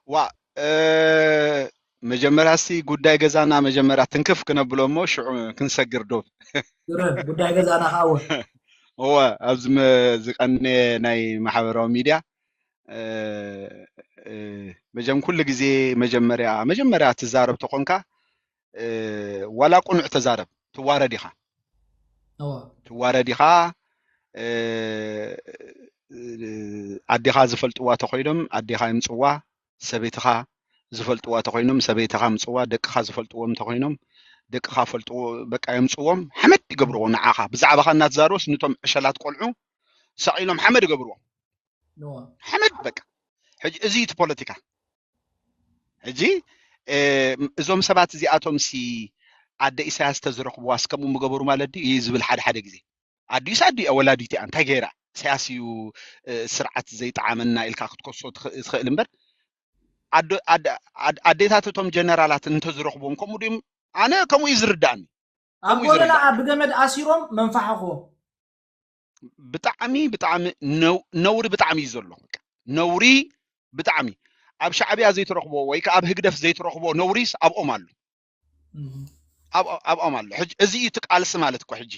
ዋእ መጀመርያ እስቲ ጉዳይ ገዛና መጀመርያ ትንክፍ ክነብሎ እሞ ሽዑ ክንሰግር ዶብ ግርም ጉዳይ ገዛና ከዓ እውን እወ ኣብዚ መ- ዝቀነየ ናይ ማሕበራዊ ሚድያ እ፣ እ፣ መጀም ኩሉ ግዜ መጀመርያ መጀመርያ ትዛረብ ተኾንካ ዋላ ቁኑዕ ተዛረብ ትዋረድ ኢኻ ትዋረድ ኢኻ ኣዴኻ ዝፈልጥዋ ተኮይኖም ኣዴኻ ይምፅዋ ሰበይትኻ ዝፈልጥዋ ተኮይኖም ሰበይትኻ ምፅዋ ደቅኻ ዝፈልጥዎም ተኮይኖም ደቅኻ ፈልጡ በቃ የምፅዎም ሓመድ ይገብርዎ ንዓኻ ብዛዕባኻ እናተዛርቦስ ንቶም ዕሸላት ቆልዑ ሰቂሎም ሓመድ ይገብርዎ ሓመድ በቃ ሕጂ እዚ እቲ ፖለቲካ ሕጂ እዞም ሰባት እዚኣቶም ሲ ኣደ ኢሳያስ ተዝረኽብዋስ ከምኡ ምገበሩ ማለት ድዩ እዩ ዝብል ሓደ ሓደ ግዜ ኣዲኡስ ኣዲ እያ ወላዲት እያ እንታይ ገይራ ኢሳያስ እዩ ስርዓት ዘይጠዓመና ኢልካ ክትከሶ ትኽእል እምበር ኣዴታት እቶም ጀነራላት እንተዝረኽብዎም ከምኡ ድም ኣነ ከምኡ እዩ ዝርዳእኒ ኣብ ጎለላዓ ብገመድ ኣሲሮም መንፋሕኹ ብጣዕሚ ብጣዕሚ ነውሪ ብጣዕሚ እዩ ዘሎ ነውሪ ብጣዕሚ ኣብ ሻዕብያ ዘይትረኽቦ ወይ ከዓ ኣብ ህግደፍ ዘይትረኽቦ ነውሪስ ኣብኦም ኣሎ ኣብኦም ኣሎ እዚ እዩ እቲ ቃልሲ ማለት እኮ ሕጂ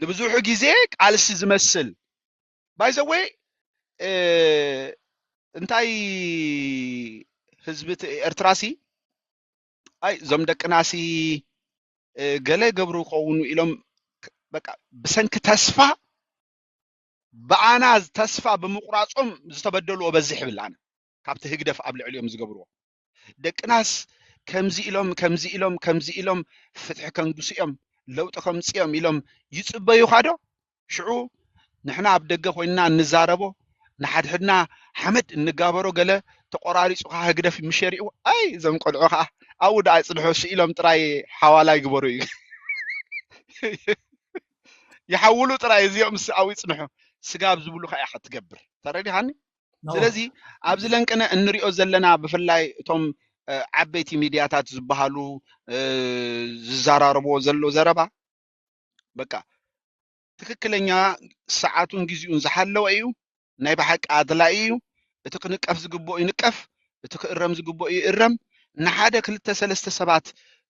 ንብዙሑ ግዜ ቃልሲ ዝመስል ባይዘወ እንታይ ህዝቢ ኤርትራሲ ኣይ እዞም ደቅናሲ እ፣ ገለ ይገብሩ ይኸውኑ ኢሎም ክ- በቃ ብሰንኪ ተስፋ ብኣና ተስፋ ብምቑራጾም ዝተበደሉ ወበዝሕ ይብል ኣነ ካብቲ ህግደፍ ኣብ ልዕሊኦም ዝገብርዎ ደቅናስ ከምዚ ኢሎም ከምዚ ኢሎም ከምዚ ኢሎም ፍትሒ ከንግሱ እዮም ለውጢ ከምፅኦም ኢሎም ይፅበዩኻ ዶ ሽዑ ንሕና ኣብ ደገ ኮይንና እንዛረቦ ንሓድሕድና ሓመድ እንጋበሮ ገለ ተቆራሪጹ ከኣ ህግደፍ ምሸሪኡ ኣይ እዞም ቆልዑ ከኣ ኣብኡ ደኣ ይጽንሑ ስኢሎም ጥራይ ሓዋላ ይግበሩ እዩ ይሓውሉ ጥራይ እዚኦም ኣብኡ ይጽንሑ ስጋብ ዝብሉ ከኣ ኢኻ ትገብር ተረዲኻኒ ስለዚ ኣብዚ ለንቅነ እንሪኦ ዘለና ብፍላይ እቶም ዓበይቲ ሚድያታት ዝበሃሉ ዝዘራረብዎ ዘሎ ዘረባ በቃ ትክክለኛ ሰዓቱን ግዜኡን ዝሓለወ እዩ ናይ ብሓቂ ኣድላዪ እዩ እቲ ክንቀፍ ዝግብኦ ይንቀፍ እቲ ክእረም ዝግብኦ ይእረም ንሓደ ክልተ ሰለስተ ሰባት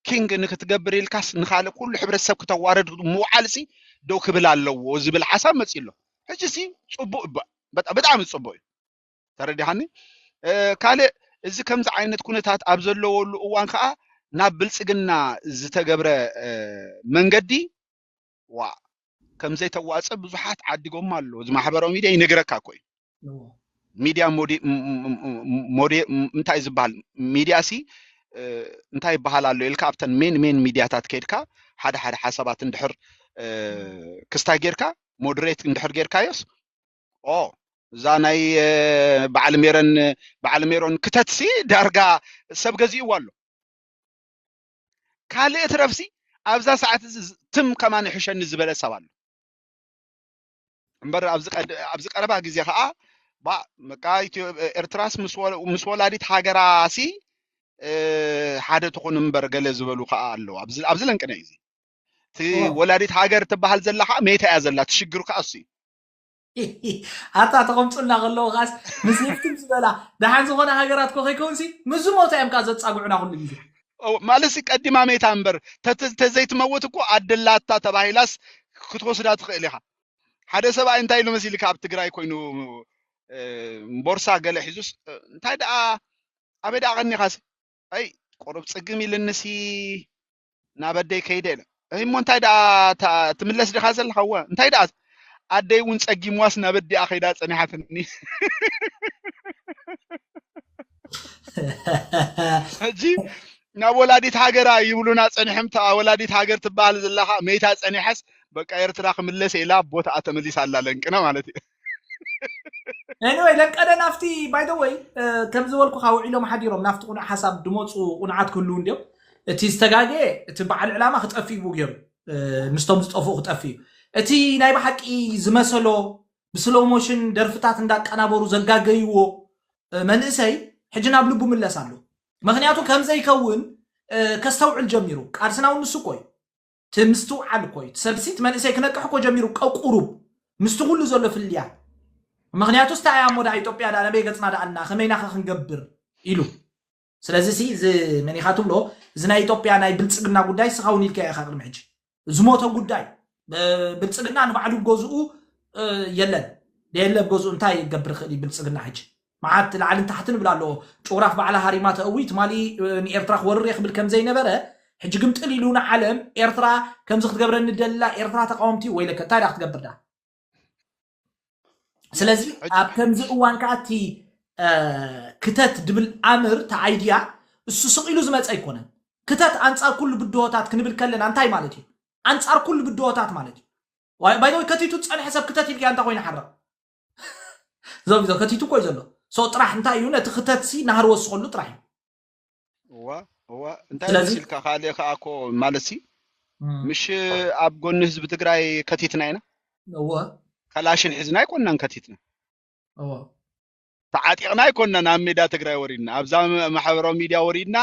ኪንግ ንክትገብር ኢልካስ ንካልእ ኩሉ ሕብረተሰብ ክተዋረድ ምውዓል ሲ ደው ክብል ኣለዎ ዝብል ሓሳብ መፅኡ ኣሎ ሕጂ ሲ ፅቡቅ ብጣዕሚ ፅቡቅ እዩ ተረዲሓኒ ካልእ እዚ ከምዚ ዓይነት ኩነታት ኣብ ዘለወሉ እዋን ከዓ ናብ ብልፅግና ዝተገብረ መንገዲ ዋ ከምዘይተዋፀ ብዙሓት ዓዲጎማ ኣሎ እዚ ማሕበራዊ ሚድያ ይነግረካ እኮ እዩ ሚድያ እንታይ ዝበሃል ሚድያ ሲ እንታይ ይበሃል ኣሎ ኢልካ ኣብተን ሜን ሜን ሚድያታት ከድካ ሓደ ሓደ ሓሳባት እንድሕር ክስታይ ጌርካ ሞደሬት እንድሕር ጌርካዮስ ኦ እዛ ናይ በዓል ሜረን በዓል ሜሮን ክተትሲ ዳርጋ ሰብ ገዚእዋ ኣሎ ካልእ ትረፍሲ ኣብዛ ሰዓት እዚ ትም ከማን ይሕሸኒ ዝበለ ሰብ ኣሎ እምበር ኣብዚ ቀድ- ኣብዚ ቀረባ ግዜ ከዓ ባ በቃ ኢትዮ- ኤርትራስ ምስ ወ- ምስ ወላዲት ሃገራሲ እ፣ ሓደ ትኹን እምበር ገለ ዝበሉ ከዓ ኣለዉ ኣብዚ ኣብዚ ለንቅነ እዩ እዚ እቲ እዋ ወላዲት ሃገር ትበሃል ዘላ ከዓ መይታ እያ ዘላ እቲ ሽግር ከዓ እሱ እዩ ኣታ ተቐምጡልና ከለዉ ከዓስ ምስ ህፍትም ዝበላ ደሓን ዝኾነ ሃገራት ኮ ከይከውንሲ ምስ ዝሞታ እዮም ከዓ ዘፃግዑና ኩሉ ግዜ ማለት ሲ ቀዲማ መይታ እምበር ተዘይትመውት እኮ ኣደላታ ተባሂላስ ክትወስዳ ትኽእል ኢኻ ሓደ ሰብኣይ እንታይ ኢሉ መሲልካ ኣብ ትግራይ ኮይኑ ቦርሳ ገለ ሒዙስ እንታይ ደኣ ኣበይ ደኣ ቀኒኻሲ ኣይ ቆረብ ፅግም ኢልንሲ ናብ ኣደይ ከይደ ኢለ ኣይ እሞ እንታይ ደኣ ትምለስ ዲኻ ዘለኻ እወ እንታይ ደኣ ኣደይ እውን ጸጊምዋስ ናብ ኣዲኣ ከይዳ ጸኒሓትኒ ሕጂ ናብ ወላዲት ሃገራ ይብሉና ጸኒሖም ተኣ ወላዲት ሃገር ትበሃል ዘለኻ መይታ ጸኒሐስ በቃ ኤርትራ ክምለስ ኢላ ቦታኣ ተመሊሳ ኣላ ለንቅነ ማለት እዩ ኤኒወይ ለቀደ ናፍቲ ባይ ዘ ወይ ከም ዝበልኩኻ ውዒሎም ሓዲሮም ናፍቲ ቁኑዕ ሓሳብ ድመፁ ቁኑዓት ክህልው እንዲዮም እቲ ዝተጋገ እቲ በዓል ዕላማ ክጠፍእ ይቡ ገይሩ እ፣ ምስቶም ዝጠፍኡ ክጠፍእ እዩ እቲ ናይ ብሓቂ ዝመሰሎ ብስሎው ሞሽን ደርፍታት እንዳቀናበሩ ዘጋገይዎ እ፣ መንእሰይ ሕጂ ናብ ልቡ ምለስ ኣሎ ምክንያቱ ከምዘይከውን እ፣ ከስተውዕል ጀሚሩ ቃልስና እውን ንሱ እኮ እዩ እቲ ምስትውዓል እኮ እዩ እቲ ሰብሲት መንእሰይ ክነቅሕ እኮ ጀሚሩ ቀቁሩብ ምስቲ ኩሉ ዘሎ ፍልያት ምክንያቱስ እንታይ እያ እሞ ደኣ ኢትዮጵያ ደኣ ነበይ ገጽና ደኣ ኣላ ከመይ ናኸ ክንገብር ኢሉ ስለዚ ሲ እዚ መን ኢኻ ትብሎ እዚ ናይ ኢትዮጵያ ናይ ብልጽግና ጉዳይ ስኻ እውን ኢልካዮ ኢኻ ቅድሚ ሕጂ ዝሞተ ጉዳይ ብልጽግና ንባዕሉ ገዝኡ የለን ደየለ ገዝኡ እንታይ ይገብር ይኽእል እዩ ብልጽግና ሕጂ መዓት ላዕልን ታሕትን እብል ኣለዎ ጩራፍ ባዕላ ሃሪማ ተእዊ ትማሊ ንኤርትራ ክወርር እየ ክብል ከምዘይነበረ ሕጂ ግምጥል ኢሉ ንዓለም ኤርትራ ከምዚ ክትገብረኒ ደላ ኤርትራ ተቃወምቲ ወይለከ እንታይ ዳ ክትገብር ዳ ስለዚ ኣብ ከምዚ እዋን ከዓ እቲ ክተት ድብል ኣምር እቲ ኣይድያ እሱ ስቕ ኢሉ ዝመፀ ኣይኮነን ክተት ኣንፃር ኩሉ ብድሆታት ክንብል ከለና እንታይ ማለት እዩ ኣንፃር ኩሉ ብድሆታት ማለት እዩ ባይዘወይ ከቲቱ ዝፀንሐ ሰብ ክተት ኢልካ እንታ ኮይኑ ሓርቕ ዞም ዞ ከቲቱ ኮይ ዘሎ ሶ ጥራሕ እንታይ እዩ ነቲ ክተትሲ ናህር ወስኸሉ ጥራሕ እዩ እዋ እዋ እንታይ ስለዚ መሲልካ ካልእ ከዓ እኮ ማለት ሲ ምሽ ኣብ ጎኒ ህዝቢ ትግራይ ከቲትና ኢና እወ ከላሽን ሒዝና ኣይኮናን ከቲትና እወ ተዓጢቕና ኣይኮናን ኣብ ሜዳ ትግራይ ወሪድና ኣብዛ ማሕበራዊ ሚድያ ወሪድና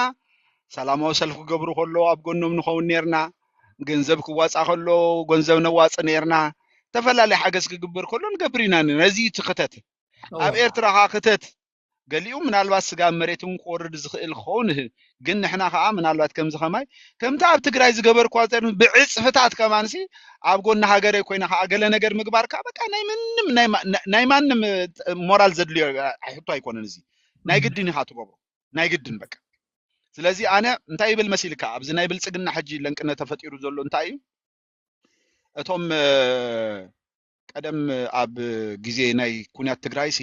ሰላማዊ ሰልፊ ክገብሩ ከለዉ ኣብ ጎኖም ንኸውን ነርና ገንዘብ ክዋፃእ ከሎ ገንዘብ ነዋፅእ ነርና ዝተፈላለየ ሓገዝ ክግበር ከሎ ንገብር ኢና ነርና እዚ እዩ እቲ ክተት ኣብ እወ ኤርትራ ከዓ ክተት ገሊኡ ምናልባት ስጋ ኣብ መሬት እውን ክወርድ ዝኽእል ክኸውን ይህ ግን ንሕና ከዓ ምናልባት ከምዚ ከማይ ከምቲ ኣብ ትግራይ ዝገበርኳ ዘር ብዕፅፍታት ከማንሲ ኣብ ጎኒ ሃገረይ ኮይነ ከዓ ገለ ነገር ምግባር ከዓ በቃ ናይ ምንም ናይ ማ- ናይ ማንም እ፣ ሞራል ዘድልዮ እ፣ ሕቶ ኣይኮነን እዚ ናይ ግድን ኢኻ ትገብሮ ናይ ግድን በቃ ስለዚ ኣነ እንታይ ይብል መሲልካ ኣብዚ ናይ ብልፅግና ሕጂ ለንቅነ ተፈጢሩ ዘሎ እንታይ እዩ እቶም ቀደም ኣብ ግዜ ናይ ኩናት ትግራይ ሲ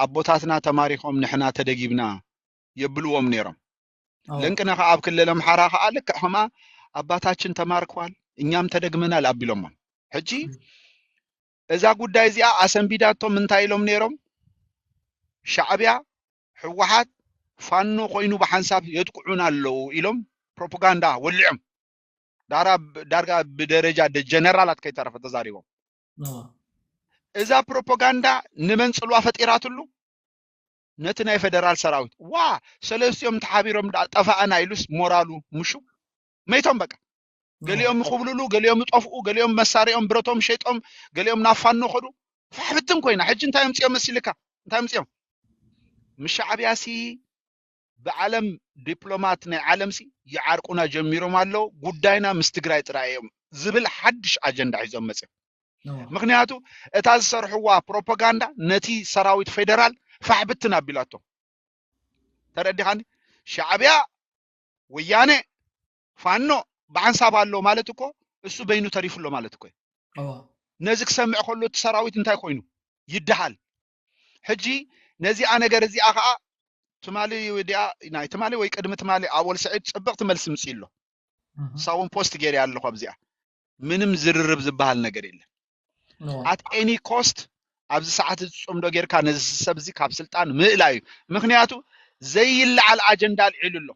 ኣቦታትና ተማሪኾም ንሕና ተደጊብና የብልዎም ነይሮም። ለንቅነ ከዓ ኣብ ክልል ኣምሓራ ከዓ ልክዕ ከማ ኣባታችን ተማርኳል እኛም ተደግመናል ኣቢሎሞም። ሕጂ እዛ ጉዳይ እዚኣ ኣሰንቢዳቶም እንታይ ኢሎም ነይሮም? ሻዕቢያ ህወሓት ፋኖ ኮይኑ ብሓንሳብ የጥቅዑን ኣለዉ ኢሎም ፕሮፓጋንዳ ወሊዖም ዳርጋ ብደረጃ ጀነራላት ከይተረፈ ተዛሪቦም። እዛ ፕሮፓጋንዳ ንመን ፅልዋ ፈጢራትሉ? ነቲ ናይ ፌደራል ሰራዊት ዋ ሰለስቲኦም ተሓቢሮም ጠፋእና ኢሉስ ሞራሉ ምሹ መይቶም በቃ ገሊኦም ይኹብልሉ ገሊኦም ይጠፍኡ ገሊኦም መሳሪኦም ብረቶም ሸይጦም ገሊኦም ናብ ፋኖ ከዱ ፋሕብትን ኮይና ሕጂ እንታይ ምፅኦም መሲልካ እንታይ ምፅኦም ምስ ሻዕብያ ሲ ብዓለም ዲፕሎማት ናይ ዓለም ሲ ይዓርቁና ጀሚሮም ኣለዉ ጉዳይና ምስ ትግራይ ጥራይ እዮም ዝብል ሓድሽ ኣጀንዳ ሒዞም መፅኦም ምክንያቱ እታ ዝሰርሕዋ ፕሮፓጋንዳ ነቲ ሰራዊት ፌደራል ፋሕብትን ኣቢላቶ ተረዲኻኒ ሻዕብያ ወያነ ፋኖ ብሓንሳብ ኣሎ ማለት እኮ እሱ በይኑ ተሪፉ ኣሎ ማለት እኮ እዩ። ነዚ ክሰምዕ ከሎ እቲ ሰራዊት እንታይ ኮይኑ ይደሃል። ሕጂ ነዚኣ ነገር እዚኣ ከዓ ትማሊ ዲኣ ናይ ትማሊ ወይ ቅድሚ ትማሊ ኣወል ስዒድ ፅብቕቲ መልሲ ምፅኡ ኣሎ ሳውን ፖስት ገይረ ኣለኹ ኣብዚኣ ምንም ዝርርብ ዝበሃል ነገር የለን ኣት ኤኒ ኮስት ኣብዚ ሰዓት እዚ ፅምዶ ጌርካ ነዚ ሰብ እዚ ካብ ስልጣን ምእላይ እዩ ምክንያቱ ዘይለዓል ኣጀንዳ ኣልዒሉ ኣሎ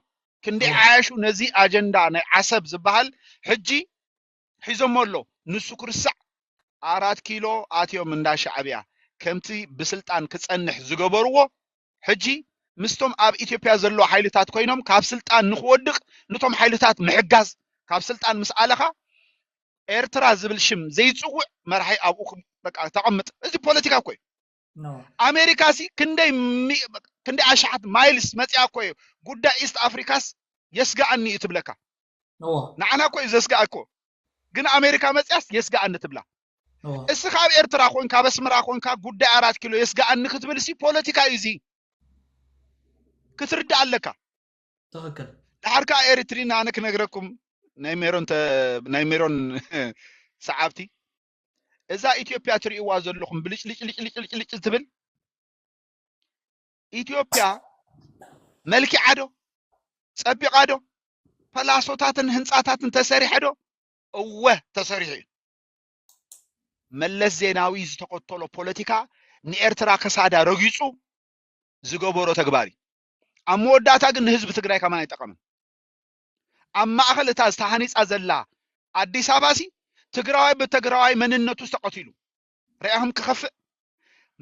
ክንዲ ዓያሹ ነዚ ኣጀንዳ ናይ ዓሰብ ዝበሃል ሕጂ ሒዞሞ ኣሎ ንሱ ክርስዕ ኣራት ኪሎ ኣትዮም እንዳ ሻዕብያ ከምቲ ብስልጣን ክፀንሕ ዝገበርዎ ሕጂ ምስቶም ኣብ ኢትዮጵያ ዘለዉ ሓይልታት ኮይኖም ካብ ስልጣን ንክወድቅ ንቶም ሓይልታት ምሕጋዝ ካብ ስልጣን ምስ ኣለኻ ኤርትራ ዝብል ሽም ዘይጽውዕ መራሒ ኣብኡ በቃ ተቐምጥ እዚ ፖለቲካ እኮ እዩ ኣሜሪካ ሲ ክንደይ ክንደይ ኣሽሓት ማይልስ መፅኣ እኮ እዩ ጉዳይ ኢስት ኣፍሪካስ የስጋኣኒ እዩ ትብለካ ንዓና እኮ እዩ ዘስጋእ እኮ ግን ኣሜሪካ መፅያስ የስጋኣኒ ትብላ እስኻ ኣብ ኤርትራ ኮንካ ኣብ ኣስመራ ኮንካ ጉዳይ ኣራት ኪሎ የስጋኣኒ ክትብል ሲ ፖለቲካ እዩ እዚ ክትርዳእ ኣለካ ትክክል ድሓር ከዓ ኤርትሪን ኣነ ክነግረኩም ናይ ሜሮን ናይ ሜሮን ሰዓብቲ እዛ ኢትዮጵያ ትርእይዋ ዘለኹም ብልጭልጭልጭልጭልጭ ትብል ኢትዮጵያ መልኪዓ ዶ ጸቢቓ ዶ ፐላሶታትን ህንፃታትን ተሰሪሐ ዶ እወ ተሰሪሑ እዩ መለስ ዜናዊ ዝተኸተሎ ፖለቲካ ንኤርትራ ከሳዳ ረጊጹ ዝገበሮ ተግባር እዩ ኣብ መወዳእታ ግን ንህዝቢ ትግራይ ከማን ኣይጠቐምን ኣብ ማእኸል እታ ዝተሃኒፃ ዘላ ኣዲስ ኣበባ ሲ ትግራዋይ ብትግራዋይ መንነቱ ዝተቐትሉ ርያኹም ክኸፍእ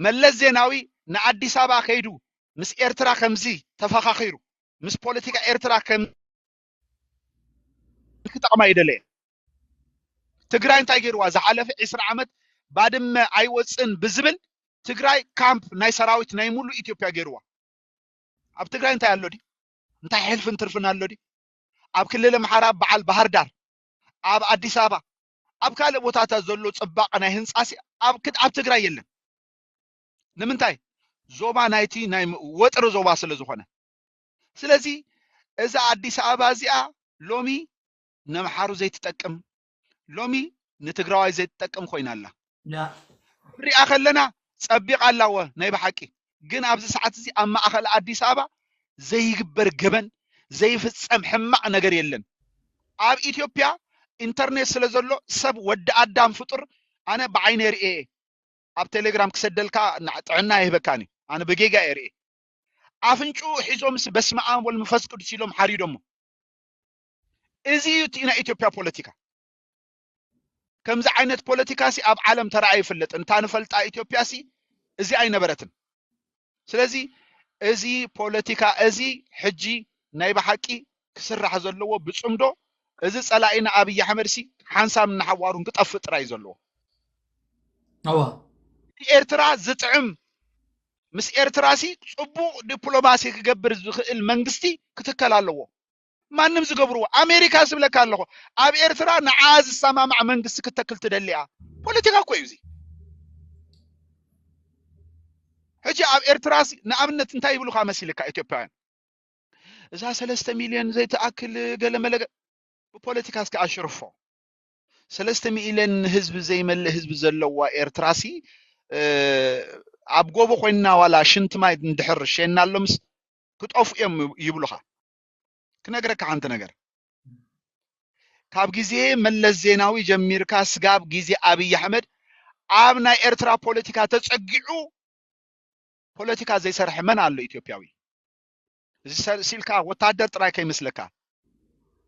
መለስ ዜናዊ ንኣዲስ ኣበባ ከይዱ ምስ ኤርትራ ከምዚ ተፈኻኺሩ ምስ ፖለቲካ ኤርትራ ከም ክጠቕማ ይደለየን ትግራይ እንታይ ገይርዋ ዝሓለፈ ዕስራ ዓመት ባድመ ኣይወፅን ብዝብል ትግራይ ካምፕ ናይ ሰራዊት ናይ ሙሉእ ኢትዮጵያ ገይርዋ ኣብ ትግራይ እንታይ ኣሎ ድዩ እንታይ ሕልፍን ትርፍን ኣሎ ድዩ ኣብ ክልል ኣምሓራ በዓል ባህር ዳር ኣብ ኣዲስ ኣበባ ኣብ ካልእ ቦታታት ዘሎ ፅባቐ ናይ ህንፃሲ ኣብ ትግራይ የለን ንምንታይ ዞባ ናይቲ ናይ ወጥሪ ዞባ ስለ ዝኾነ ስለዚ እዛ ኣዲስ ኣበባ እዚኣ ሎሚ ነምሓሩ ዘይትጠቅም ሎሚ ንትግራዋይ ዘይትጠቅም ኮይና ኣላ ንሪኣ ከለና ፀቢቓ ኣላወ ናይ ብሓቂ ግን ኣብዚ ሰዓት እዚ ኣብ ማእኸል ኣዲስ ኣበባ ዘይግበር ገበን ዘይፍፀም ሕማቕ ነገር የለን ኣብ ኢትዮጵያ ኢንተርኔት ስለ ዘሎ ሰብ ወዲ ኣዳም ፍጡር ኣነ ብዓይነ ርእየ ኣብ ቴሌግራም ክሰደልካ ጥዕና ይህበካን እዩ ኣነ ብጌጋ እየ ርእየ ኣፍንጭኡ ሒዞምስ በስመኣም ወልድ መንፈስ ቅዱስ ኢሎም ሓሪዶሞ። እዚ እዩ እቲ ናይ ኢትዮጵያ ፖለቲካ። ከምዚ ዓይነት ፖለቲካ ሲ ኣብ ዓለም ተራእዩ ይፍለጥ እንታ ንፈልጣ ኢትዮጵያ ሲ እዚ ኣይነበረትን ስለዚ እዚ ፖለቲካ እዚ ሕጂ ናይ ብሓቂ ክስራሕ ዘለዎ ብፅምዶ እዚ ፀላኢና ኣብይ ኣሕመድ ሲ ሓንሳብ እናሓዋሩን ክጠፍእ ጥራይ ዘለዎ እዋ ንኤርትራ ዝጥዕም ምስ ኤርትራሲ ጽቡቕ ዲፕሎማሲ ክገብር ዝኽእል መንግስቲ ክትከል ኣለዎ። ማንም ዝገብርዎ ኣሜሪካ ስብለካ ኣለኹ ኣብ ኤርትራ ንዓ ዝሰማማዕ መንግስቲ ክተክል ትደሊያ ፖለቲካ እኮ እዩ እዚ ሕጂ ኣብ ኤርትራ ንኣብነት እንታይ ይብሉካ መሲልካ ኢትዮጵያውያን እዛ ሰለስተ ሚልዮን ዘይትኣክል ገለመለ ብፖለቲካ እስከ ኣሽርፎ ሰለስተ ሚእለን ህዝቢ ዘይመልእ ህዝቢ ዘለዋ ኤርትራሲ ኣብ ጎቦ ኮይንና ዋላ ሽንቲ ማይ እንድሕር ሸናሎምስ ክጠፍኡ እዮም ይብሉኻ ክነግረካ ሓንቲ ነገር ካብ ግዜ መለስ ዜናዊ ጀሚርካ ስጋብ ግዜ ኣብይ ኣሕመድ ኣብ ናይ ኤርትራ ፖለቲካ ተጸጊዑ ፖለቲካ ዘይሰርሐ መን ኣሎ ኢትዮጵያዊ እዚ ሰልሲ ኢልካ ወታደር ጥራይ ከይመስለካ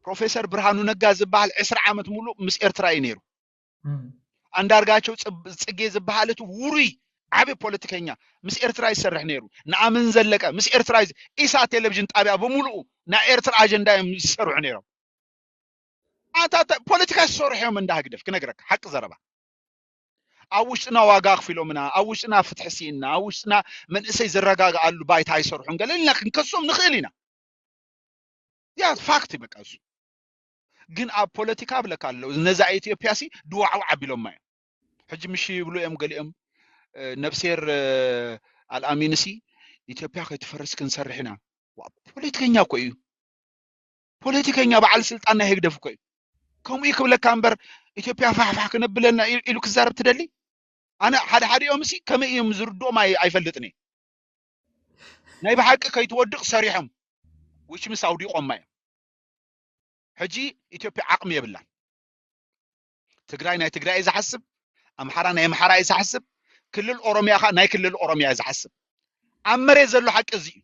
ፕሮፌሰር ብርሃኑ ነጋ ዝበሃል ዕስራ ዓመት ሙሉእ ምስ ኤርትራ እዩ ነይሩ። ኣንዳርጋቸው ጽጌ ዝበሃል እቲ ውሩይ ዓብዪ ፖለቲከኛ ምስ ኤርትራ ይሰርሕ ነይሩ። ንኣምን ዘለቀ ምስ ኤርትራ ኢሳ ቴሌቪዥን ጣቢያ ብምሉኡ ናይ ኤርትራ ኣጀንዳ እዮም ዝሰርሑ ነይሮም። ኣንታ ፖለቲካ ዝሰርሑ እዮም እንዳ ህግደፍ ክነግረካ ሓቂ ዘረባ ኣብ ውሽጥና ዋጋ ኣኽፊሎምና ኣብ ውሽጥና ፍትሒ ስኢንና ኣብ ውሽጥና መንእሰይ ዝረጋግኣሉ ባይታ ኣይሰርሑን ገለ ኢልና ክንከሶም ንኽእል ኢና ያ ፋክት በቃ እሱ ግን ኣብ ፖለቲካ ብለካ ኣለዉ ነዛ ኢትዮጵያ ሲ ድዋዕዋዕ ኣቢሎማ እዮም ሕጂ ምሽ ይብሉ እዮም ገሊኦም ነብሴር ኣልኣሚንሲ ኢትዮጵያ ከይትፈርስ ክንሰርሕ ኢና ፖለቲከኛ እኮ እዩ ፖለቲከኛ በዓል ስልጣን ናይ ህግደፍ እኮ እዩ ከምኡ እዩ ክብለካ እምበር ኢትዮጵያ ፋሕፋሕ ክነብለና ኢሉ ክዛረብ ትደሊ ኣነ ሓደ ሓዲኦም ሲ ከመይ እዮም ዝርድኦም ኣይፈልጥን እየ ናይ ብሓቂ ከይትወድቕ ሰሪሖም ውሽ ምስ ኣውዲቖማ እዮም ሕጂ ኢትዮጵያ ዓቕሚ የብላን ትግራይ ናይ ትግራይ እዩ ዝሓስብ ኣምሓራ ናይ ኣምሓራ እዩ ዝሓስብ ክልል ኦሮሚያ ኸ ናይ ክልል ኦሮሚያ እዩ ዝሓስብ ኣብ መሬት ዘሎ ሓቂ እዚ እዩ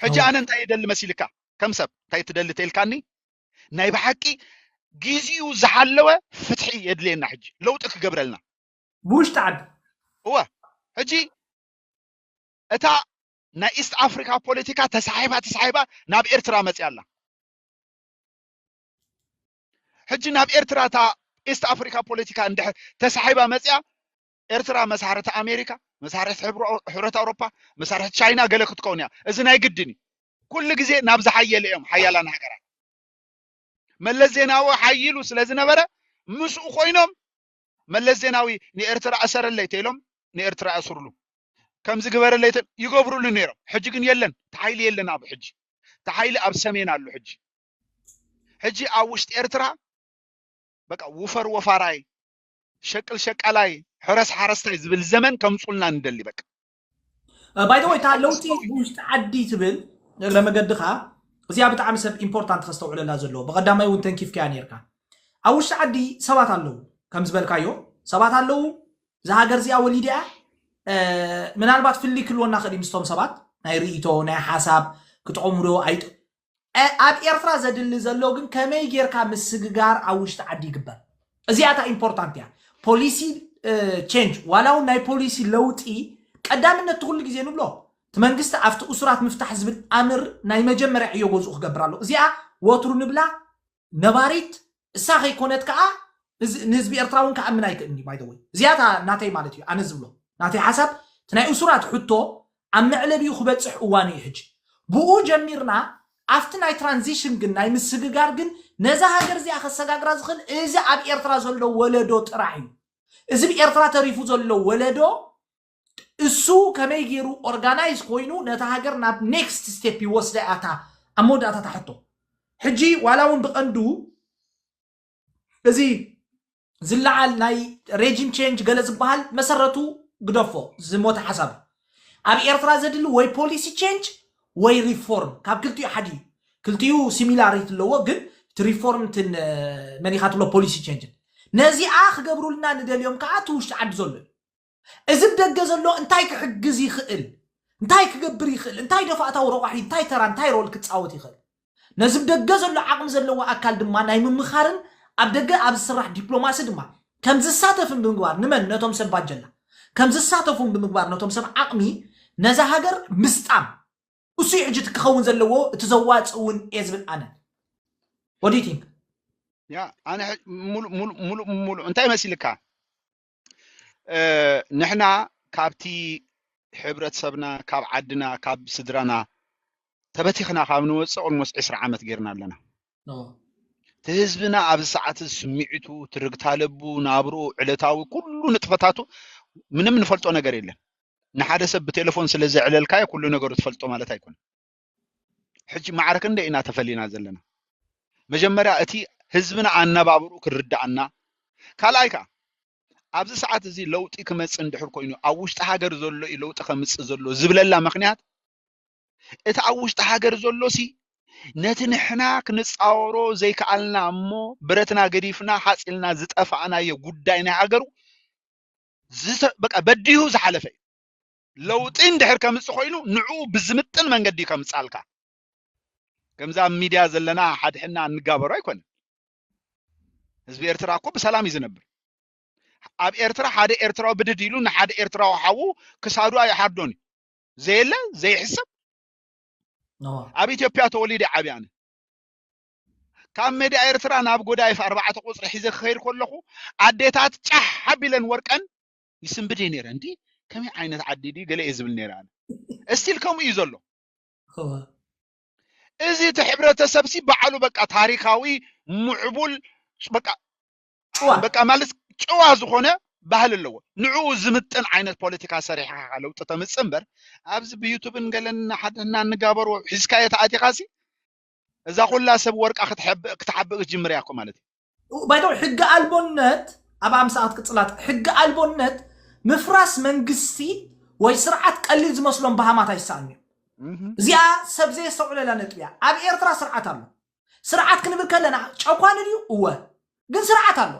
ሕጂ ኣነ እንታይ ይደሊ መሲልካ ከም ሰብ እንታይ ትደሊ ተልካኒ ናይ ብሓቂ ግዜኡ ዝሓለወ ፍትሒ የድልየና ሕጂ ለውጢ ክገብረልና ብውሽጢ ዓዲ እወ ሕጂ እታ ናይ ኢስት ኣፍሪካ ፖለቲካ ተሳሒባ ተሳሒባ ናብ ኤርትራ መፅያ ኣላ ሕጂ ናብ ኤርትራ እታ ኢስት ኣፍሪካ ፖለቲካ እንድሕር ተሳሒባ መፅያ ኤርትራ መሳርሕቲ ኣሜሪካ፣ መሳርሕቲ ሕብረት ኣውሮፓ፣ መሳርሕቲ ቻይና ገለ ክትከውን እያ። እዚ ናይ ግድን እዩ። ኩሉ ግዜ ናብ ዝሓየለ እዮም ሓያላን ሃገራት። መለስ ዜናዊ ሓይሉ ስለ ዝነበረ ምስኡ ኮይኖም መለስ ዜናዊ ንኤርትራ እሰረለይ ተኢሎም ንኤርትራ ያስርሉ ከምዚ ግበረለይ ይገብርሉ ነይሮም። ሕጂ ግን የለን ተሓይሊ የለን ኣብ ሕጂ ተሓይሊ ኣብ ሰሜን ኣሎ ሕጂ ሕጂ ኣብ ውሽጢ ኤርትራ በቃ ውፈር ወፋራይ ሸቅል ሸቃላይ ሕረስ ሓረስታይ ዝብል ዘመን ከምፁልና ንደሊ በቃ። ባይተወይ እታ ለውጢ ብውሽጢ ዓዲ ትብል እግረ መገድኻ እዚኣ ብጣዕሚ ሰብ ኢምፖርታንት ከስተውዕለላ ዘለዎ ብቐዳማይ እውን ተንኪፍካያ ነርካ ኣብ ውሽጢ ዓዲ ሰባት ኣለዉ ከም ዝበልካዮ ሰባት ኣለዉ እዛ ሃገር እዚኣ ወሊድያ ምናልባት ፍልይ ክልወና ክእል ምስቶም ሰባት ናይ ርእቶ ናይ ሓሳብ ክጠቕሙ ዶ ኣይጥ ኣብ ኤርትራ ዘድሊ ዘሎ ግን ከመይ ጌርካ ምስግጋር ኣብ ውሽጢ ዓዲ ይግበር እዚኣ እታ ኢምፖርታንት እያ ፖሊሲ ቼንጅ ዋላ እውን ናይ ፖሊሲ ለውጢ ቀዳምነት ትኩሉ ግዜ ንብሎ እቲ መንግስቲ ኣብቲ እሱራት ምፍታሕ ዝብል ኣምር ናይ መጀመርያ ዕዮ ገዝኡ ክገብር ኣለዎ እዚኣ ወትሩ ንብላ ነባሪት እሳ ከይኮነት ከኣ እዚ ንህዝቢ ኤርትራ እውን ክኣምን ኣይክእልን እዩ ባይ ዘ ወይ እዚኣ እታ ናተይ ማለት እዩ ኣነ ዝብሎ ናተይ ሓሳብ እቲ ናይ እሱራት ሕቶ ኣብ መዕለቢኡ ክበጽሕ እዋኑ እዩ ሕጂ ብኡ ጀሚርና ኣብቲ ናይ ትራንዚሽን ግን ናይ ምስግጋር ግን ነዛ ሃገር እዚኣ ከሰጋግራ ዝኽእል እዚ ኣብ ኤርትራ ዘሎ ወለዶ ጥራሕ እዩ እዚ ብ ኤርትራ ተሪፉ ዘሎ ወለዶ እሱ ከመይ ገይሩ ኦርጋናይዝ ኮይኑ ነታ ሃገር ናብ ኔክስት ስቴፕ ይወስዳ እያ እታ ኣብ መወዳእታ እታ ሕቶ ሕጂ ዋላ እውን ብቐንዱ እዚ ዝለዓል ናይ ሬጂም ቼንጅ ገለ ዝበሃል መሰረቱ ግደፎ ዝሞተ ሓሳብ እዩ ኣብ ኤርትራ ዘድሊ ወይ ፖሊሲ ቼንጅ ወይ ሪፎርም ካብ ክልቲኡ ሓደ እዩ ክልቲኡ ሲሚላሪቲ ኣለዎ ግን እቲ ሪፎርም ትን መን ኢኻ ትብሎ ፖሊሲ ቼንጅን ነዚኣ ክገብሩልና ንደልዮም ከዓ እቲ ውሽጢ ዓዲ ዘሎ እዩ እዚ ብደገ ዘሎ እንታይ ክሕግዝ ይኽእል እንታይ ክገብር ይኽእል እንታይ ደፋእታዊ ረቋሒ እንታይ ተራ እንታይ ሮል ክፃወት ይኽእል ነዚ ብደገ ዘሎ ዓቕሚ ዘለዎ ኣካል ድማ ናይ ምምኻርን ኣብ ደገ ኣብ ዝስራሕ ዲፕሎማሲ ድማ ከም ዝሳተፍን ብምግባር ንመን ነቶም ሰብ ባጀላ ከም ዝሳተፉን ብምግባር ነቶም ሰብ ዓቕሚ ነዛ ሃገር ምስጣም እሱ እዩ ሕጂ እቲ ክኸውን ዘለዎ እቲ ዘዋፅ እውን እየ ዝብል ኣነ ወዲቲንግ ያ ኣነ ሙሉእ ሙሉእ ሙሉእ እንታይ መሲልካ እ፣ ንሕና ካብቲ ሕብረተሰብና ካብ ዓድና ካብ ስድራና ተበቲኽና ካብ ንወፅእ ኦልሞስ ዕስራ ዓመት ጌርና ኣለና ኦ፣ እቲ ህዝብና ኣብዚ ሰዓት እዚ ስምዒቱ ትርግታ ለቡ ናብርኡ ዕለታዊ ኩሉ ንጥፈታቱ ምንም ንፈልጦ ነገር የለን ንሓደ ሰብ ብቴሌፎን ስለ ዘዕለልካዮ ኩሉ ነገሩ ትፈልጦ ማለት ኣይኮነን ሕጂ ማዕረ ክንደይ ኢና ተፈሊና ዘለና መጀመርያ እቲ ህዝብና ኣነባብርኡ ክርድኣና ካልኣይ ከኣ ኣብዚ ሰዓት እዚ ለውጢ ክመጽእ እንድሕር ኮይኑ ኣብ ውሽጢ ሃገር ዘሎ እዩ ለውጢ ከምጽእ ዘሎ ዝብለላ ምክንያት እቲ ኣብ ውሽጢ ሃገር ዘሎ ሲ ነቲ ንሕና ክንጻወሮ ዘይከኣልና እሞ ብረትና ገዲፍና ሓፂልና ዝጠፋእናዮ ጉዳይ ናይ ሃገሩ በቃ በዲሁ ዝሓለፈ እዩ ለውጢ እንድሕር ከምፅ ኮይኑ ንዕኡ ብዝምጥን መንገዲ እዩ ከምፃልካ ከምዚ ኣብ ሚድያ ዘለና ሓድሕና እንጋበሩ ኣይኮነን ህዝቢ ኤርትራ እኮ ብሰላም እዩ ዝነብር ኣብ ኤርትራ ሓደ ኤርትራዊ ብድድ ኢሉ ንሓደ ኤርትራዊ ሓዉ ክሳዱ ኣይሓርዶን እዩ ዘየለ ዘይሕሰብ እዎ ኣብ ኢትዮጵያ ተወሊደ ዓብየ ኣነ ካብ ሜዳ ኤርትራ ናብ ጎዳይፍ ኣርባዕተ ቁፅሪ ሒዘ ክኸይድ ከለኹ ኣዴታት ጫሕ ሓቢለን ወርቀን ይስንብድ እየ ነይረ እንዲ ከመይ ዓይነት ዓዲ ድዩ ገለ እየ ዝብል ነይረ ኣነ እስቲል ከምኡ እዩ ዘሎ እዋ እዚ እቲ ሕብረተሰብ ሲ በዓሉ በቃ ታሪካዊ ምዕቡል ስ- በቃ ጭዋ በቃ ማለት ጭዋ ዝኾነ ባህሊ ኣለዎ ንዕኡ ዝምጥን ዓይነት ፖለቲካ ሰሪሕካ ኢኻ ለውጢ ተምፅእ እምበር ኣብዚ ብዩቱብን ገለን ሓደ እና እንጋበሮ ሒዝካዮ ተኣቲኻ ሲ እዛ ኩላ ሰብ ወርቃ ክትሐብእ ክትሓብእ ክትጅምር እያ እኮ ማለት እዩ። ባይ ዘ ወይ ሕጊ ኣልቦነት ኣብ ኣምሳኣት ቅጽላት ሕጊ ኣልቦነት ምፍራስ መንግስቲ ወይ ስርዓት ቀሊል ዝመስሎም በሃማት ኣይሰኣኑ እዮም እህም። እዚኣ ሰብ ዘየስተውዕለላ ነጥቢ እያ ኣብ ኤርትራ ስርዓት ኣሎ ስርዓት ክንብል ከለና ጨኳኒ ድዩ እወ ግን ስርዓት ኣሎ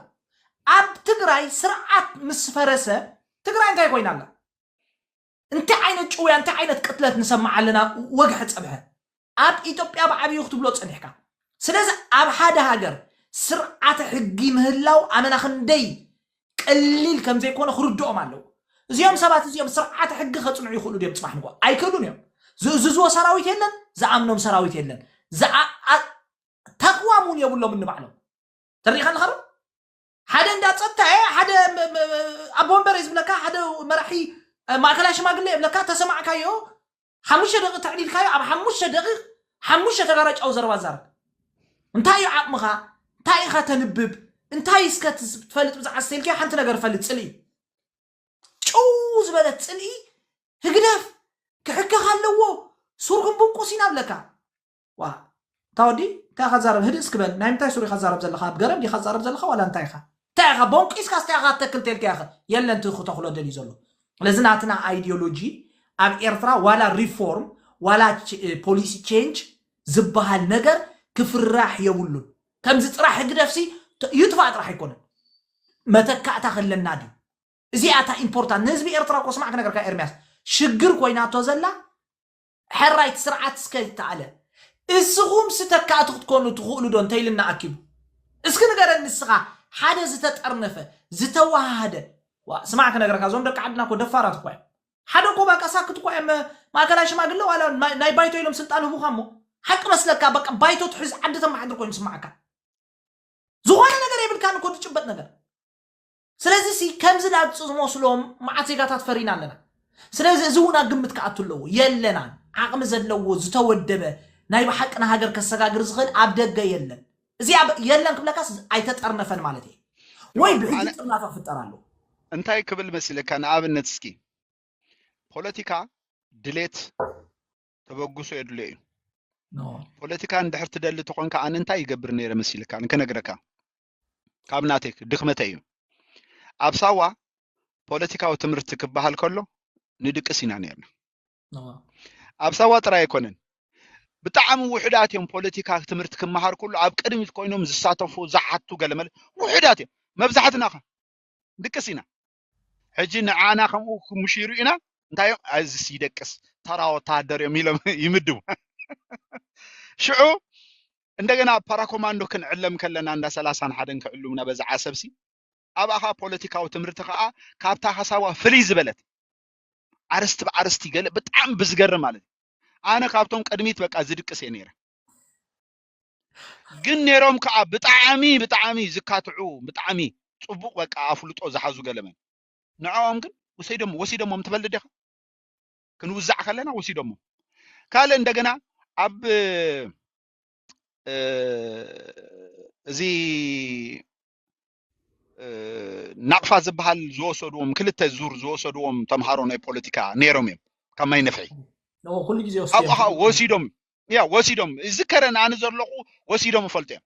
ኣብ ትግራይ ስርዓት ምስ ፈረሰ ትግራይ እንታይ ኮይና ኣላ እንታይ ዓይነት ጭውያ እንታይ ዓይነት ቅትለት ንሰማዕ ኣለና ወግሐ ጸብሐ ኣብ ኢትዮጵያ ብዓብዩ ክትብሎ ጸኒሕካ ስለዚ ኣብ ሓደ ሃገር ስርዓተ ሕጊ ምህላው ኣመና ክንደይ ቀሊል ከም ዘይኮነ ክርድኦም ኣለዎ እዚኦም ሰባት እዚኦም ስርዓተ ሕጊ ከጽንዑ ይኽእሉ ድዮም ጽባሕ ንጎ ኣይክእሉን እዮም ዝእዝዝዎ ሰራዊት የለን ዝኣምኖም ሰራዊት የለን ዝኣ- አ- ተቕዋም እውን የብሎምን ንባዕሎም ተሪኢኻ ኣለኻ ዶ ሓደ እንዳ ፀጥታ እየ ሓደ ኣቦ ወንበር እየ ዝብለካ ሓደ መራሒ ማእከላይ ሽማግለ የብለካ ተሰማዕካዮ ሓሙሽተ ደቂቅ ተዕሊልካዮ ኣብ ሓሙሽተ ደቂቅ ሓሙሽተ ተጋራጫዊ ዘረባ ዛረብ እንታይ እዩ ዓቕምኻ እንታይ ኢኻ ተንብብ እንታይ እስከ ትፈልጥ ብዛዕባ ስተልኪ ሓንቲ ነገር ፈልጥ ፅልኢ ጭው ዝበለት ፅልኢ ህግደፍ ክሕከኽ ኣለዎ ሱርኩም ብንቁስ ኢና ብለካ ዋእ እታ ወዲ እንታይ ኢኻ ትዛረብ ህድእ እስኪ በል ናይ ምንታይ ሱር ኢኻ ትዛረብ ዘለኻ ኣብ ገረብ ዲኻ ትዛረብ ዘለኻ ዋላ እንታይ ኢኻ እንታይ ኢኻ ቦንቂስካስ እንታይ ኢኻ ክትተክል ተልካያኸ የለን እቲ ክተኽሎ ደልዩ ዘሎ ስለዚ ናትና ኣይዲዮሎጂ ኣብ ኤርትራ ዋላ ሪፎርም ዋላ ፖሊሲ ቼንጅ ዝበሃል ነገር ክፍራሕ የብሉን ከምዚ ጥራሕ ህግደፍሲ ይጥፋእ ጥራሕ ኣይኮነን መተካእታ ከለና ድዩ እዚኣ እታ ኢምፖርታንት ንህዝቢ ኤርትራ እኮ ስማዕ ክነገርካ ኤርሚያስ ሽግር ኮይናቶ ዘላ ሕራይ እቲ ስርዓት እስከ ዝተኣለ እስኹም ስተካእቲ ክትኮኑ ትኽእሉ ዶ እንተይልና ኣኪቡ እስኪ ንገረኒ ንስኻ ሓደ ዝተጠርነፈ ዝተወሃሃደ ዋ ስማዕ ክነግረካ እዞም ደቂ ዓድና እኮ ደፋራት እኳ እዮም ሓደ እኮ ባቃ ሳክት እኳ እዮም ማእከላይ ሽማግለ ዋላ ናይ ናይ ባይቶ ኢሎም ስልጣን ህቡኻ እሞ ሓቂ መስለካ በቃ ባይቶ ትሕዝ ዓዲ ተመሓድር ኮይኑ ስማዓካ ዝኾነ ነገር የብልካን እኮ ትጭበጥ ነገር ስለዚ ሲ ከምዚ ላግጺ ዝመስሎም መዓት ዜጋታት ፈሪና ኣለና። ስለዚ እዚ እውን ኣብ ግምት ክኣቱ ኣለዎ። የለናን። ዓቕሚ ዘለዎ ዝተወደበ ናይ ብሓቂ ንሃገር ከሰጋግር ዝኽእል ኣብ ደገ የለን። እዚ ኣብ የለን ክብለካስ ኣይተጠርነፈን ማለት እየ። ወይ ይኸውልህ ብሕጂ ኣነ ጥርናፈ ክፍጠር ኣለዎ። እንታይ ክብል መሲለካ ንኣብነት እስኪ ፖለቲካ ድሌት ተበግሶ የድልዮ እዩ። ን ፖለቲካ እንድሕር ትደሊ ተኾንካ ኣነ እንታይ ይገብር ነይረ መሲልካ ክነግረካ። ካብ ናተይ ድክመተይ እዩ ኣብ ሳዋ ፖለቲካዊ ትምህርቲ ክበሃል ከሎ ንድቅስ ኢና ነርና ኣብ ሳዋ ጥራይ ኣይኮነን ብጣዕሚ ውሕዳት እዮም ፖለቲካ ትምህርቲ ክመሃር ኩሉ ኣብ ቅድሚት ኮይኖም ዝሳተፉ ዝሓቱ ገለመለ ውሕዳት እዮም መብዛሕትና ከ ድቅስ ኢና ሕጂ ንዓና ከምኡ ክምሽሩ ኢና እንታይ እዮም ኣዝስ ይደቅስ ተራ ወተሃደር እዮም ኢሎም ይምድቡ ሽዑ እንደገና ፓራኮማንዶ ክንዕለም ከለና እንዳ ሰላሳን ሓደን ክዕሉምና በዛ ዓሰብሲ ኣብኣኻ ፖለቲካዊ ትምህርቲ ከዓ ካብታ ሓሳባ ፍልይ ዝበለት ዓርስቲ ብዓርስቲ ገለ ብጣዕሚ ብዝገርም ማለት እዩ ኣነ ካብቶም ቅድሚት በቃ ዝድቅስ እየ ነይረ ግን ነይሮም ከዓ ብጣዕሚ ብጣዕሚ ዝካትዑ ብጣዕሚ ፅቡቅ በቃ ኣፍልጦ ዝሓዙ ገለመን ንዕኦም ግን ወሰይዶም ወሲዶሞም ትበል ዲኻ ክንውዛዕ ከለና ወሲዶሞም ካልእ እንደገና ኣብ እ፣ እዚ ናቕፋ ዝበሃል ዝወሰድዎም ክልተ ዙር ዝወሰድዎም ተምሃሮ ናይ ፖለቲካ ነይሮም እዮም ካብ ማይ ነፍሒ ኩሉ ግዜ ካብኡ ከዓ ወሲዶም ያ ወሲዶም ዝከረ ንኣነ ዘለኹ ወሲዶም እፈልጡ እዮም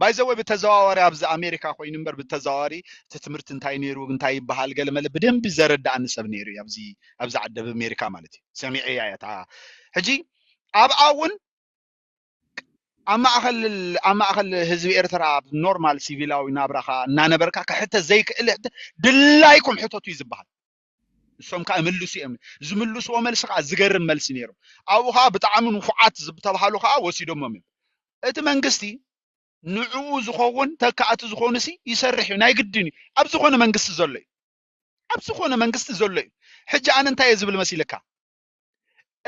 ባይዘወይ ብተዘዋዋሪ ኣብዚ ኣሜሪካ ኮይኑ እምበር ብተዘዋዋሪ እቲ ትምህርቲ እንታይ ነይሩ እንታይ ይበሃል ገለ መለ ብደንቢ ዘረዳእኒ ሰብ ነይሩ እዩ ኣብዚ ኣብዚ ዓዲ ኣሜሪካ ማለት እዩ ሰሚዐ እያ እታ ሕጂ ኣብኣ እውን ኣብ ማእኸል ኣብ ማእኸል ህዝቢ ኤርትራ ኣብ ኖርማል ሲቪላዊ ናብራኻ እናነበርካ ክሕተት ዘይክእል ሕቶ ድላይኩም ሕተቱ እዩ ዝበሃል እሶም ከዓ ይምልሱ እዮም ዝምልስዎ መልሲ ከዓ ዝገርም መልሲ ነይሩ ኣብኡ ከዓ ብጣዕሚ ንፉዓት ዝተባሃሉ ከዓ ወሲዶሞም እዮም እቲ መንግስቲ ንዕኡ ዝኸውን ተካእቲ ዝኾኑ ሲ ይሰርሕ እዩ ናይ ግድን እዩ ኣብ ዝኾነ መንግስቲ ዘሎ እዩ ኣብ ዝኾነ መንግስቲ ዘሎ እዩ ሕጂ ኣነ እንታይ እየ ዝብል መሲልካ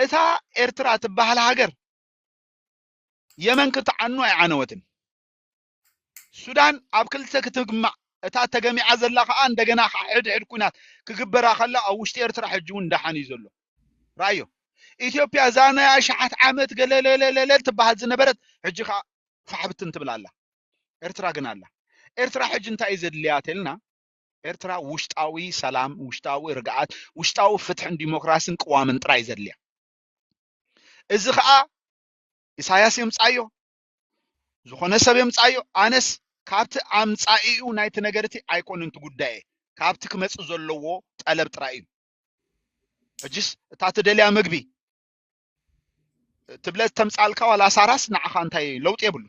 እታ ኤርትራ ትበሃል ሃገር የመን ክትዓኑ ኣይዓነወትን። ሱዳን ኣብ ክልተ ክትግማዕ እታ ተገሚዓ ዘላ ከዓ እንደገና ከዓ ሕድሕድ ኩናት ክግበራ ከላ ኣብ ውሽጢ ኤርትራ ሕጂ እውን ዳሓን እዩ ዘሎ ራዮ ኢትዮጵያ እዛ ናይ ኣሽሓት ዓመት ገለለለለለል ትበሃል ዝነበረት ሕጂ ከዓ ፋሕብትን ትብል ኣላ ኤርትራ ግን ኣላ ኤርትራ ሕጂ እንታይ እዩ ዘድልያ ተልና ኤርትራ ውሽጣዊ ሰላም ውሽጣዊ ርግኣት ውሽጣዊ ፍትሕን ዲሞክራሲን ቅዋምን ጥራይ ዘድልያ እዚ ከዓ ኢሳያስ የምፃዮ ዝኾነ ሰብ የምፃዮ ኣነስ ካብቲ ኣምፃኢኡ ናይቲ ነገር እቲ ኣይኮነን እቲ ጉዳየ ካብቲ ክመፅእ ዘለዎ ጠለብ ጥራይ እዩ ሕጅስ እታ ትደልያ ምግቢ ትብለ ተምፃልካ ዋላ ሳራስ ንዓኻ እንታይ ለውጢ የብሉ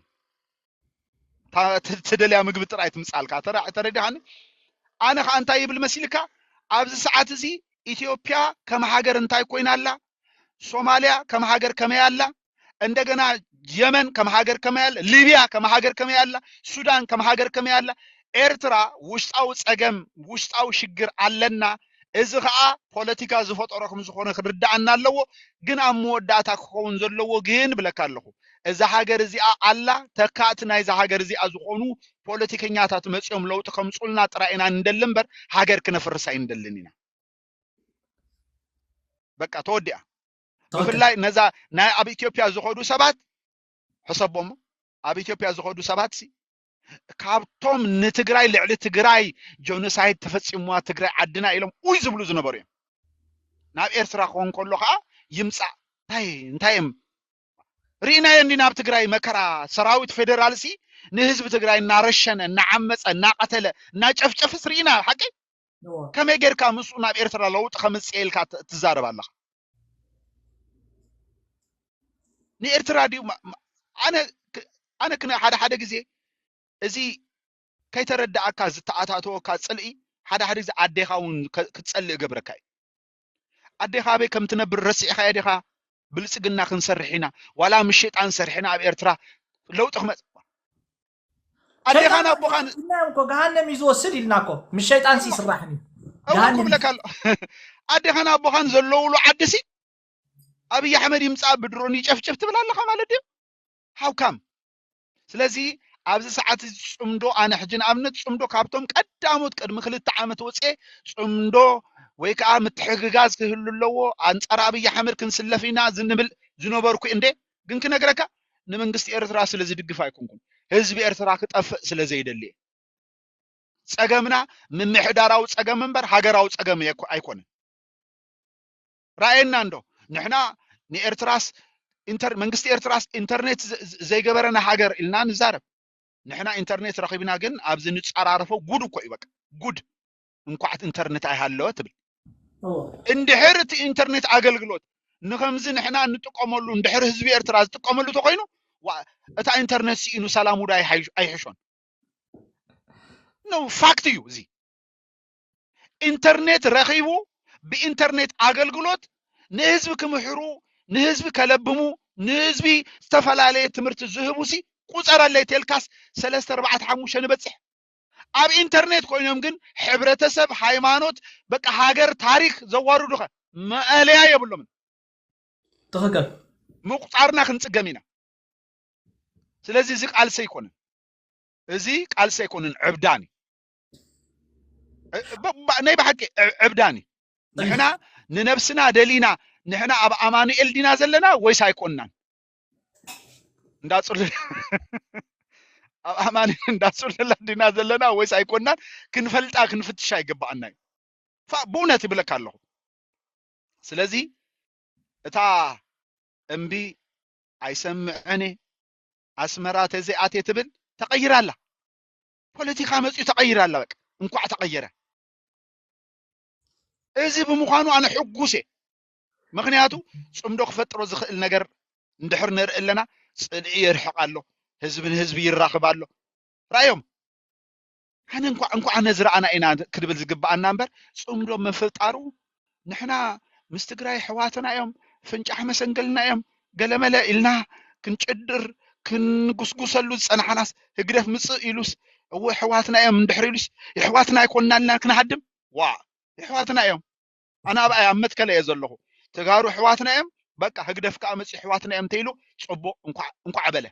ትደልያ ምግቢ ጥራይ ትምጻልካ ተረዲኻኒ ኣነ ከዓ እንታይ ይብል መሲልካ ኣብዚ ሰዓት እዚ ኢትዮጵያ ከም ሃገር እንታይ ኮይና ኣላ ሶማሊያ ከም ሃገር ከመይ ኣላ እንደገና የመን ከም ሃገር ከመይ ኣላ ሊቢያ ከም ሃገር ከመይ ኣላ ሱዳን ከም ሃገር ከመይ ኣላ ኤርትራ ውሽጣዊ ፀገም ውሽጣዊ ሽግር ኣለና እዚ ከኣ ፖለቲካ ዝፈጠሮ ክምዝኾነ ክርደኣና ኣለዎ ግን ኣብ መወዳእታ ክኸውን ዘለዎ ግን ብለካ ኣለኹ እዛ ሃገር እዚኣ ኣላ ተካእቲ ናይዛ ሃገር እዚኣ ዝኾኑ ፖለቲከኛታት መጽዮም ለውጢ ከምጹልና ጥራይ ኢና ንደሊ እምበር ሃገር ክነፍርስ ኣይንደልን ኢና በቃ ተወዲኣ ብፍላይ ነዛ ናይ ኣብ ኢትዮጵያ ዝኸዱ ሰባት ሕሰቦሞ ኣብ ኢትዮጵያ ዝኸዱ ሰባት ሲ ካብቶም ንትግራይ ልዕሊ ትግራይ ጆኖሳይድ ተፈፂሙዋ ትግራይ ዓድና ኢሎም ኡይ ዝብሉ ዝነበሩ እዮም ናብ ኤርትራ ክኾን ከሎ ከዓ ይምፃእ እንታይ እንታይ እዮም ርኢናዮ እንዲና ኣብ ትግራይ መከራ ሰራዊት ፌዴራል ሲ ንህዝቢ ትግራይ እናረሸነ እናዓመፀ እናቐተለ እናጨፍጨፍስ ርኢና ሓቂ ከመይ ጌርካ ምስኡ ናብ ኤርትራ ለውጢ ከምጽኤ ኢልካ ትዛረብ ኣለኻ? ንኤርትራ ድዩ ኣነ ኣነ ክነ ሓደ ሓደ ግዜ እዚ ከይተረዳእካ ዝተኣታተወካ ጽልኢ ሓደ ሓደ ግዜ ኣዴኻ እውን ክትጸልእ ገብረካ እዩ ኣዴኻ ኣበይ ከም ትነብር ረሲዕኻዮ ዲኻ ብልጽግና ክንሰርሕ ኢና ዋላ ምሽጣን ሰርሕና ኣብ ኤርትራ ለውጢ ክመጽ ኣዴኻን ኣቦኻን ኢልናዮም እኮ ገሃነም እዩ ዝወስድ ኢልና እኮ ምስ ሸይጣን ሲ ይስራሕን እዩ እውን ገሃነም እዩ። ክብለካ ኣሎ ኣዴኻን ኣቦኻን ዘለውሉ ዓዲ ሲ ኣብይ ኣሕመድ ይምፃእ ብድሮን ይጨፍጭፍ ትብል ኣለኻ ማለት ድዩ ሃውካም ስለዚ ኣብዚ ሰዓት እዚ ፅምዶ ኣነ ሕጂ ንኣብነት ፅምዶ ካብቶም ቀዳሞት ቅድሚ ክልተ ዓመት ወፅኤ ፅምዶ ወይ ከዓ ምትሕግጋዝ ክህሉ ኣለዎ ኣንፃር ኣብይ ኣሕመድ ክንስለፍ ኢና ዝንብል ዝነበርኩ እንዴ ግን ክነግረካ ንመንግስቲ ኤርትራ ስለ ዝድግፍ ኣይኮንኩን ህዝቢ ኤርትራ ክጠፍእ ስለ ዘይደሊ እየ ጸገምና ምምሕዳራዊ ጸገም እምበር ሃገራዊ ጸገም የኮ- ኣይኮነን ራእየና እንዶ ንሕና ንኤርትራስ ኢንተር መንግስቲ ኤርትራስ ኢንተርኔት ዘ- ዘ- ዘይገበረና ሃገር ኢልና ንዛረብ ንሕና ኢንተርኔት ረኺብና ግን ኣብዚ ንጸራረፎ ጉድ እኮ እዩ በቃ ጉድ እንኳዕ ኢንተርኔት ኣይሃለወ ትብል እንድሕር እቲ ኢንተርኔት ኣገልግሎት ንከምዚ ንሕና እንጥቀመሉ እንድሕር ህዝቢ ኤርትራ ዝጥቀመሉ ተኮይኑ እታ ኢንተርኔት ስኢኑ ሰላም ውዳ ኣይሕሾን ነው ፋክት እዩ እዚ ኢንተርኔት ረኺቡ ብኢንተርኔት ኣገልግሎት ንህዝቢ ክምሕሩ ንህዝቢ ከለብሙ ንህዝቢ ዝተፈላለየ ትምህርቲ ዝህቡ ሲ ቁፀረለይ ቴልካስ ሰለስተ ኣርባዕተ ሓሙሽተ ንበፅሕ ኣብ ኢንተርኔት ኮይኖም ግን ሕብረተሰብ ሃይማኖት በቃ ሃገር ታሪክ ዘዋርዱከ መኣለያ የብሎምን ትክክል ምቁፃርና ክንፅገም ኢና ስለዚ እዚ ቃልሲ ኣይኮነን እዚ ቃልሲ ኣይኮነን ዕብዳን ናይ ብሓቂ ዕብዳን እዩ ንሕና ንነብስና ደሊና ንሕና ኣብ ኣማኑኤል ዲና ዘለና ወይስ ኣይኮንናን እንዳጽሉል ኣብ ኣማኒ እንዳጽሉላ ዲና ዘለና ወይስ ኣይኮናን ክንፈልጣ ክንፍትሻ ይግባኣና እዩ ፋ- ብእውነት ይብለካ ኣለኹ ስለዚ እታ እምቢ ኣይሰምዕን እየ፣ ኣስመራ ተዘይኣትየ ትብል ተቐይራ ኣላ ፖለቲካ መፅኡ ተቐይራ ኣላ በቃ እንኳዕ ተቐየረ እዚ ብምዃኑ ኣነ ሕጉስ እየ ምኽንያቱ ፅምዶ ክፈጥሮ ዝኽእል ነገር እንድሕር ንርኢ ኣለና ፅልኢ የርሕቕ ኣሎ ህዝቢ ንህዝቢ ይራኽብ ኣሎ ራእዮም ኣነ እንኳዕ እንኳዕ ነዚ ረኣና ኢና ክድብል ዝግብኣና እምበር ፅምዶ ምፍጣሩ ንሕና ምስ ትግራይ ሕዋትና እዮም ፍንጫሕ መሰንገልና እዮም ገለመለ ኢልና ክንጭድር ክንጉስጉሰሉ ዝፀናሓናስ ህግደፍ ምፅእ ኢሉስ እወ ሕዋትና እዮም እንድሕር ኢሉስ የሕዋትና ኣይኮንና ኢልና ክንሃድም ዋ የሕዋትና እዮም ኣነ ኣብኣይ ኣብ መትከለ እየ ዘለኹ ተጋሩ ኣሕዋትና እዮም በቃ ህግደፍ ከዓ መፅዩ ኣሕዋትና እዮም እንተይሉ ፅቡቅ እንኳዕ እንኳዕ በለ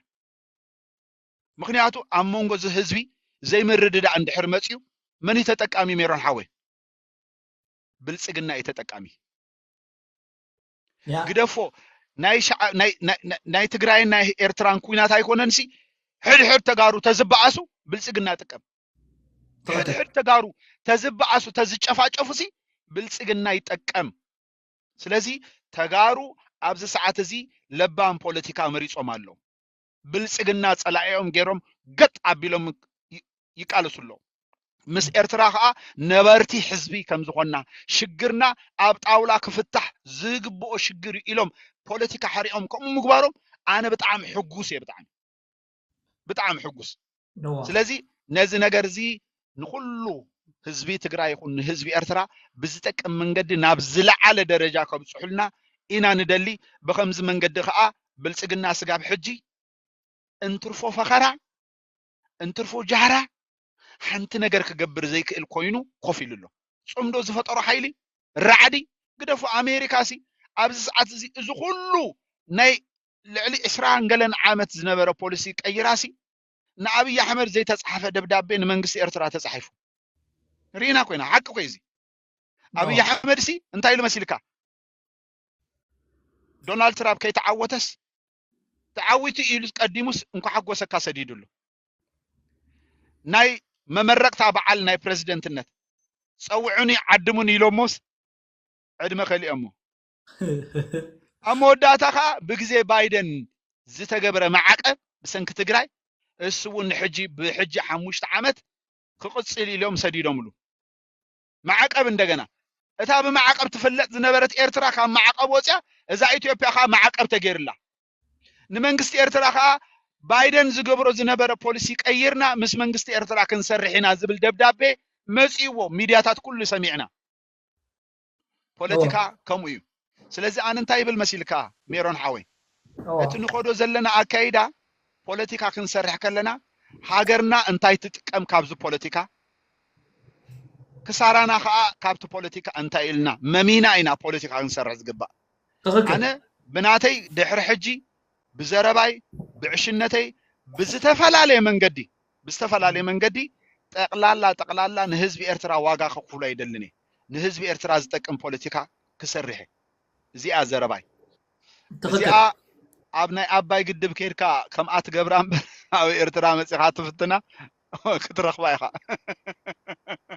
ምክንያቱ ኣብ መንጎ እዚ ህዝቢ ዘይምርድዳእ እንድሕር መፅዩ መን እዩ ተጠቃሚ ሜሮን ሓወይ ብልፅግና እዩ ተጠቃሚ ያ ግደፎ ናይ ሸዓ- ናይ- ናይ- ናይ- ናይ ትግራይን ናይ ኤርትራን ኩናት ኣይኮነንሲ ሕድሕድ ተጋሩ ተዝበኣሱ ብልፅግና ጥቀም ሕድ ሕድ ተጋሩ ተዝበዓሱ ተዝጨፋጨፉ ሲ ብልፅግና ይጠቀም ስለዚ ተጋሩ ኣብዚ ሰዓት እዚ ለባም ፖለቲካ መሪፆም ኣለው ብልፅግና ፀላዒኦም ገይሮም ገጥ ኣቢሎም ይቃለሱ ኣለዉ ምስ ኤርትራ ከዓ ነበርቲ ሕዝቢ ከም ዝኾንና ሽግርና ኣብ ጣውላ ክፍታሕ ዝግብኦ ሽግር እዩ ኢሎም ፖለቲካ ሓሪኦም ከምኡ ምግባሮም ኣነ ብጣዕሚ ሕጉስ እየ ብጣዕሚ ብጣዕሚ ሕጉስ ስለዚ ነዚ ነገር እዚ ንኩሉ ህዝቢ ትግራይ ይኹን ንህዝቢ ኤርትራ ብዝጠቅም መንገዲ ናብ ዝለዓለ ደረጃ ከብፅሑልና ኢና ንደሊ ብከምዚ መንገዲ ከዓ ብልፅግና ስጋብ ሕጂ እንትርፎ ፈኸራ እንትርፎ ጃህራ ሓንቲ ነገር ክገብር ዘይክእል ኮይኑ ኮፍ ኢሉ ኣሎ ፅምዶ ዝፈጠሮ ሓይሊ ራዕዲ ግደፉ ኣሜሪካ ሲ ኣብዚ ሰዓት እዚ እዚ ኩሉ ናይ ልዕሊ ዕስራን ገለን ዓመት ዝነበረ ፖሊሲ ቀይራሲ ንኣብይ ኣሕመድ ዘይተጻሕፈ ደብዳቤ ንመንግስቲ ኤርትራ ተጻሒፉ ርኢና ኮይና ሓቂ ኮይ እዚ ኣብይ ኣሕመድ ሲ እንታይ ኢሉ መሲልካ ዶናልድ ትራምፕ ከይተዓወተስ ተዓዊቱ ኢሉ ቀዲሙስ እንኳ ሓጎሰካ ሰዲዱ ኣሎ ናይ መመረቕታ በዓል ናይ ፕረዚደንትነት ፀውዑኒ ዓድሙኒ ኢሎሞስ ዕድመ ከሊኦሞ ኣብ መወዳእታ ከኣ ብግዜ ባይደን ዝተገብረ ማዕቀብ ብሰንኪ ትግራይ እሱ እውን ንሕጂ ብሕጂ ሓሙሽተ ዓመት ክቕጽል እዩ ኢሎም ሰዲዶምሉ። ማዕቀብ እንደገና እታ ብማዕቀብ ትፍለጥ ዝነበረት ኤርትራ ካብ ማዕቀብ ወጽያ እዛ ኢትዮጵያ ከኣ ማዕቀብ ተገይርላ። ንመንግስቲ ኤርትራ ከኣ ባይደን ዝገብሮ ዝነበረ ፖሊሲ ቀይርና ምስ መንግስቲ ኤርትራ ክንሰርሕ ኢና ዝብል ደብዳቤ መጺእዎ ሚድያታት ኩሉ ሰሚዕና። ፖለቲካ ከምኡ እዩ። ስለዚ ኣነ እንታይ ይብል መሲልካ ሜሮን ሓወይ እቲ ንኸዶ ዘለና ኣካይዳ ፖለቲካ ክንሰርሕ ከለና ሃገርና እንታይ ትጥቀም ካብዚ ፖለቲካ ክሳራና ከዓ ካብቲ ፖለቲካ እንታይ ኢልና መሚና ኢና ፖለቲካ ክንሰርሕ ዝግባእ ኣነ ብናተይ ድሕሪ ሕጂ ብዘረባይ ብዕሽነተይ ብዝተፈላለየ መንገዲ ብዝተፈላለየ መንገዲ ጠቕላላ ጠቕላላ ንህዝቢ ኤርትራ ዋጋ ከክፍሎ ኣይደልን እየ ንህዝቢ ኤርትራ ዝጠቅም ፖለቲካ ክሰርሕ እየ እዚኣ ዘረባይ እዚኣ ኣብ ናይ ኣባይ ግድብ ከይድካ ከምኣ ትገብራ እምበር ኣብ ኤርትራ መፂኻ ትፍትና ክትረኽባ ኢኻ